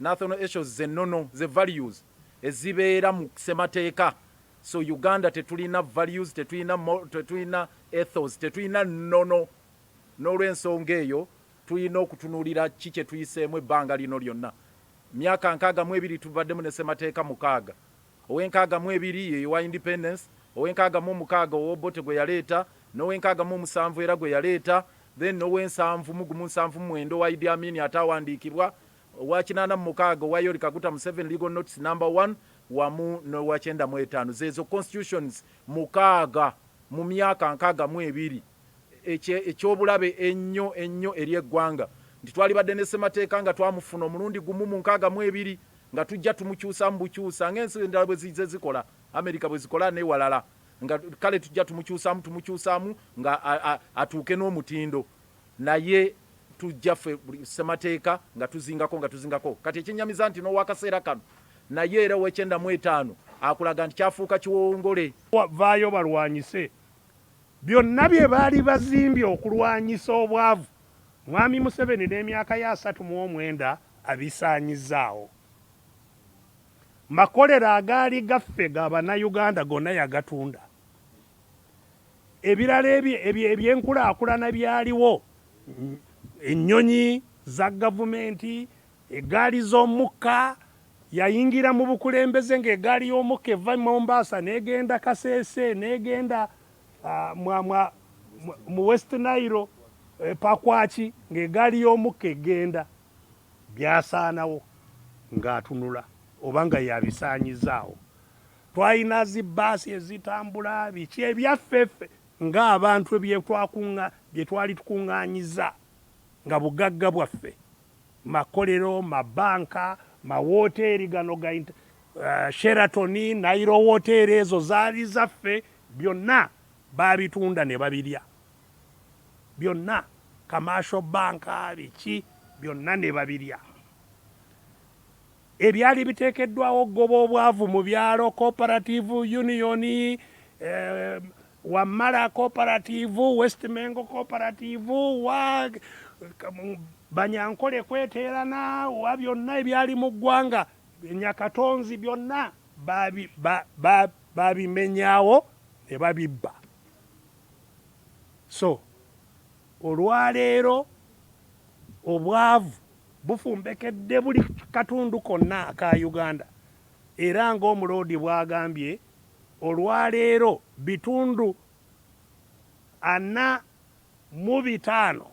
Nathonal esos ze nono ze values ezibeera mu semateeka so Uganda tetulina values tetulina tetulina ethos tetulina nono nolwensonga eyo tulina okutunulira ki kyetuyiseemu ebbanga lino lyonna myaka nkaaga mu ebiri tubaddemu ne semateeka mukaaga Ow'enkaaga mu ebiri ye y'owa Independence, ow'enkaaga mu omukaaga ow'Obote gwe yaleeta, n'ow'enkaaga mu omusanvu era gwe yaleeta, then n'ow'ensanvu mu gumu nsanvu mu mwenda owa Idi Amin ataawandiikibwa, owa kinaana mu mukaaga owa Yoweri Kaguta Museveni, Legal Notes Number One, wamu n'owa kyenda mu etaano. Zeezo Constitutions mukaaga mu myaka nkaaga mu ebiri. eky'obulabe ennyo ennyo eri eggwanga nti twalibadde ne Ssemateeka nga twamufuna omulundi gumu mu nkaaga mu ebiri nga tujja tumukyusamu bukyusa nga ensi endala bwe zizze zikola, Amerika bwe zikola n'ewalala nga kale tujja tumukyusamu tumukyusamu nga atuuke n'omutindo naye tujja ffe buli Ssemateeka nga tuzingako nga tuzingako kati ekyennyamiza nti n'owakaseera kano naye era ow'ekyenda mu etaano akulaga nti kyafuuka kiwowongole. Vvaayo obalwanyise. Byonna bye baali bazimbye okulwanyisa obwavu, Mwami Museveni n'emyaka ye asatu mu omwenda abisaanyizzaawo. Makolero agaali gaffe ga Bannayuganda gonna yagatunda. Ebirala eby'enkulaakulana byaliwo, ennyonyi za Gavumenti, Eggaali z'omukka, Yayingira mu bukulembeze ng'eggaali y'omukka eva e Mombasa n'egenda Kasese n'egenda mu West Nile e Pakwach ng'eggaali y'omukka egenda. Byasaanawo ng'atunula oba nga y'abisaanyizzaawo. Twalina zi bbaasi ezitambula, biki ebyaffe ffe ng'abantu bye twali tukuŋŋaanyiza nga bugagga bwaffe. makolero, mabanka, mawoteeri gano ga Sheraton, Nile woteeri ezo zaali zaffe byonna baabitunda ne babirya byonna, commercial banka biki byonna ne babirya. ebyali biteekeddwawo okugoba obwavu mu byalo cooperative union eh, wamala cooperative west mengo cooperative wa banyankole kweteerana wa byonna ebyali mu ggwanga nyakatonzi byonna babimenyawo ne babibba so olwaleero obwavu bufumbekedde buli katundu konna aka Uganda era ng'Omuloodi bw'agambye, olwaleero bitundu ana mu bitaano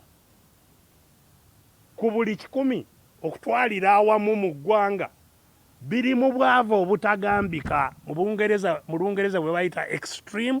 ku buli kikumi okutwalira awamu mu ggwanga biri mu bwavu obutagambika mu Lungereza bwe bayita Extreme